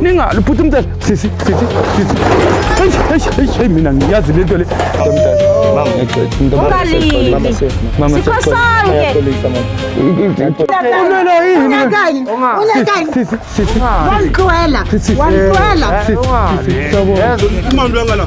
ningaluphutha umthetho sisi sisi sisi eyi mina ngiyazi le nto le ungalilwela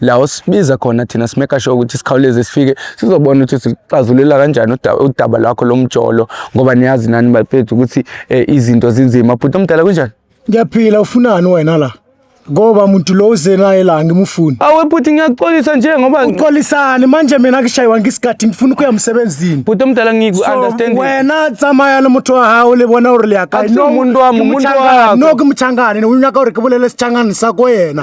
la osibiza khona thina simeka sure ukuthi sikhawuleze sifike sizobona ukuthi sixazulela kanjani udaba lwakho lomjolo ngoba niyazi nani bafethu ukuthi eh, izinto zinzima bhuti omdala kunjani ngiyaphila ufunani wena la ngoba muntu lo uze naye la ngimufuni awe bhuti ngiyaxolisa nje ngoba uxolisani manje mina ngishayiwa ngisikhathi ngifuna ukuya emsebenzini bhuti omdala ngiku-understand wena tsamaya le motho wa gago le bona gore le yakae no ke mochangane ne o nyaka gore ke bolele sechangane sa ko yena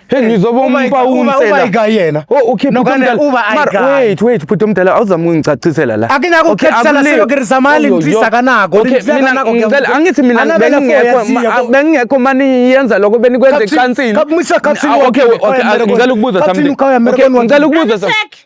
Hey ngizwa bompa umsela. Uba yena. Oh okay no kana uba I got. Wait wait bhuti omdala awuzama ungicacisela la. Akina ku khethisela silo ke rizamali ndisa kanako. Okay mina ngicela angithi mina bengingekho bengingekho mani yenza lokho benikwenze cansini. Kakumisa cansini. Okay okay ngicela ukubuza something. Okay ngicela ukubuza something.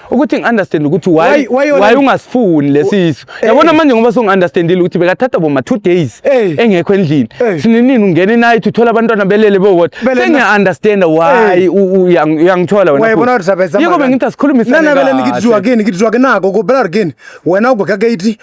ukuthi ngi-understand ukuthi why Why- why yona- why ungasifuni lesisu Eh, yabona eh. manje ngoba sungi-understandile ukuthi bekathatha boma two days Eh. engekho endlini Eh. sinenini ungena enight uthole abantwana belele bewodwa Belele na- sengiya-understanda why Eh. u- u- uyang- uyangithola wena wayibona futhi. ukuthi abeza yiko bengithi asikhulumisane nana vele kahle. nikitizwa kini kitizwa kinako ko bela kini wena ugweka gate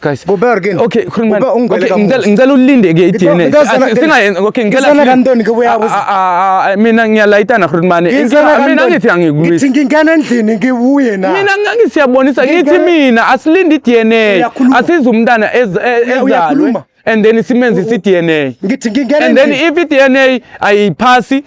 guys kuber ke okay khuluma okay ngicela ngicela ulinde ke iDNA singayenza okay ngicela ngicela kantoni ke buyabo ah, ah, ah, mina ngiyalayitana khulumane mina ngithi angikuyi ngithi ngingena endlini ngibuye na mina ngithi yabonisa ngithi mina asilinde iDNA asiza umntana e, ezalwe and then simenze isi-DNA ngithi ngingena and then if i-DNA ayiphasi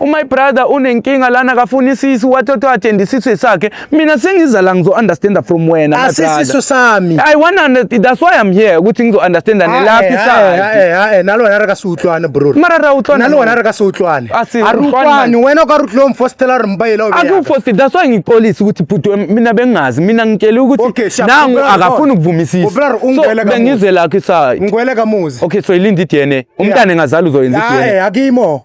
umy brother unenkinga lana akafuni isisu wathi othiwa athenda isisu sakhe mina sengiza la ngizo-understanda from wena my brother. asisiso sami I want to understand. That's why I'm here. Ukuthi ngizo-understand nelaphi side. nalo wena re ka se utlwane bro Mara ra utlwana nalo wena re ka se utlwane A se a re utlwane. utlwane wena o ka re utlwe mfostela re mbaela o beyaka. Akufosti. That's why ngixolisa ukuthi bhuti wami mina bengazi. Mina ngitshele ukuthi Okay, sharp. nangu Ubra- akafuni ukuvumisisa. Ubra- So ungibele kamuva. bengizwe lakhe side. ngwele ka muzi Okay, so ilinda i-DNA. Umntana engazali uzoyenza i-DNA. hayi akimo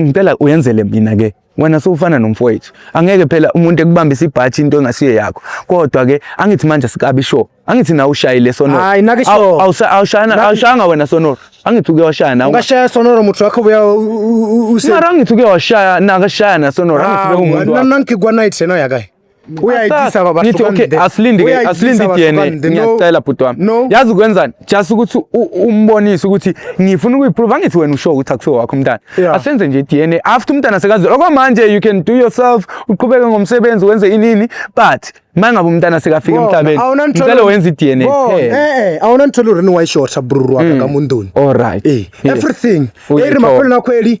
ngicela uyenzele mina ke wena sowufana nomfowethu angeke phela umuntu ekubambisa ibhathi into engasiyo yakho kodwa ke angithi manje sikabi sho angithi na ushayile sonoro hayi nake sho awushana awushanga wena sonoro angithi uke washaya nawe ungashaya sonoro muthu wakho buya use mara angithi uke washaya nakashaya na sonoro angithi ke umuntu nami nangikwa night sena yakayi uyayithisa baba ngithi okay asilinde ke asilinde DNA ngiyacela bhuti wami yazi ukwenzani just ukuthi umbonise ukuthi ngifuna ukuyiprove angithi wena usho ukuthi akusiwe wakho umntana asenze nje DNA after umntana sekazi okwamanje you can do yourself uqhubeke ngomsebenzi wenze inini but mangabe umntana sekafika emhlabeni ngicela wenze i-DNA eh eh awona ngithola urini wayishorta bruru waka mm. kamunduni all right eh, eh. everything eri maphela nakhweli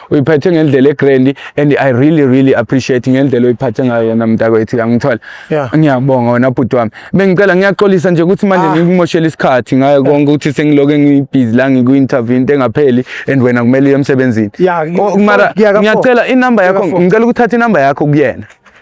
uyiphethe ngendlela egrand and i really really appreciate ngendlela oyiphathe ngayo yona mntakwethu yangithola yeah. ngiyabonga wena bhuti wami bengicela ngiyaxolisa nje ukuthi manje ah. ngikumoshela isikhathi ngayo konke ukuthi sengiloke ngiyibhizi la ngikwi-interview into engapheli and wena kumele uye emsebenzini yeah, oh, mara ngiyacela inamba yakho ngicela ukuthatha inamba yakho kuyena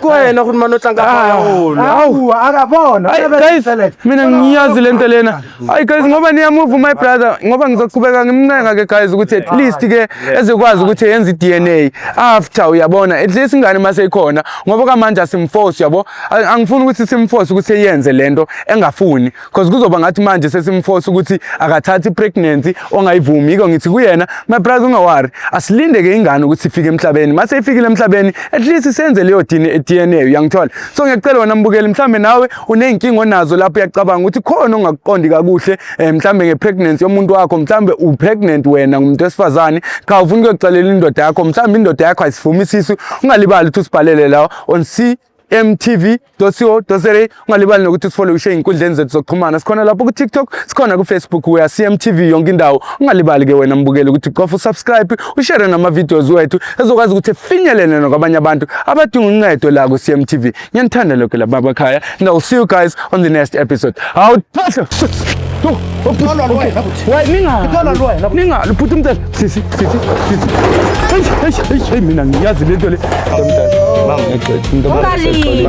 ku wena ukuthi mane utlanga akabona mina ngiyazi le nto lena hayi guys ngoba niyamuva my brother ngoba ngizoqhubeka ngimncenga ke guys ukuthi at least ke ezokwazi ukuthi yenze i-dna after uyabona at least ingane uma seyikhona ngoba kamanje asimforce yabo angifuni ukuthi simforce ukuthi eyenze le nto engafuni cause kuzoba ngathi manje sesimforce ukuthi akathathi pregnancy ongayivumi yiko ngithi kuyena my brother ungawari asilinde ke ingane ukuthi ifike emhlabeni mase ifikile emhlabeni at least senze leyo DNA uyangithola so ngiyacela wena mbukeli mhlambe nawe uneyinkinga onazo lapho uyacabanga ukuthi khona ongakuqondi kakuhle eh, mhlambe ngepregnancy yomuntu wakho mhlambe upregnant wena ngumuntu wesifazane cha ufuna ukuyocelela indoda yakho mhlambe indoda yakho ayisivumi isisu ungalibali ukuthi usibhalele lawo on C mtv.co.za ungalibali nokuthi usifole ushe inkundleni zethu zokuxhumana sikhona lapho ku TikTok sikhona ku Facebook we are CMTV yonke indawo ungalibali ke wena mbukeli ukuthi qofa usubscribe ushare nama videos wethu ezokwazi ukuthi finyelele nokwabanye abantu abadinga uncedo la ku CMTV ngiyanithanda lokho lapha bakhaya and I'll see you guys on the next episode hawu thatha ningaluphuthi umthetho sisi sisi sisi mina ngiyazi le nto le ungalili